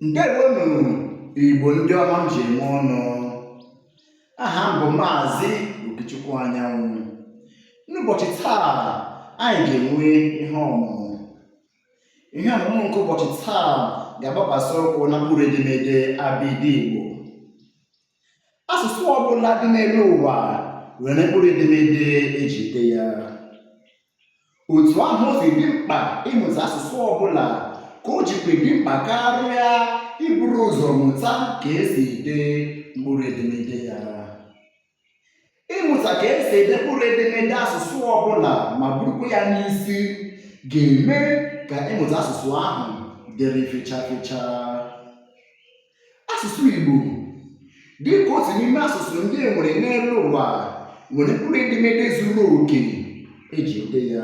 ndewonu igbo ndị ọma m ji eme ọnụ aha m bụ maazị okechukwu anyanwụ n'ụbọchị taa anyị ga-enwe ihe ọmụmụ ihe ọmụmụ nke ụbọchị taa ga-agbakwasị ụkwụ na mkpụrụ edemede abịdị igbo asụsụ ọbụla dị n'elu ụwa nwere mkpụrụ edemede eji ede ya otu ahụ o si dị mkpa ịmụta asụsụ ọbụla ka o jikwa dị mkpa karịa iburu ụzọ mụta ka esi ede mkpụrụ edemede ya ịmụta ka esi ede mkpụrụ edemede asụsụ ọbụla ma burukwa ya n'isi ga-eme ka ịmụta asụsụ ahụ dịrị fecha fecha asụsụ Igbo dị ka otu n'ime asụsụ ndị e nwere n'elu ụwa nwere mkpụrụ edemede zuru oke eji ede ya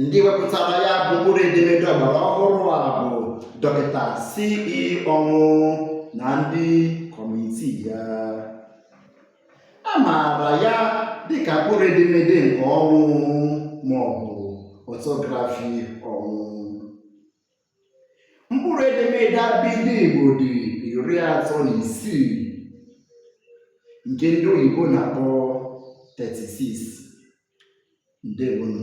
ndị wepụtara ya bụ mkpụrụ edemede ọgbara ọhụrụ a bụ dọkịta se ọnwụ na ndị kọmitii ya a maara ya dịka mkpụrụ edemede nke ọnwụ maọbụ ọtọgrafi ọnwụ mkpụrụ edemede abịdị Igbo dị iri atọ na isii nke ndị oyibo na-akpọ 36 ndewonu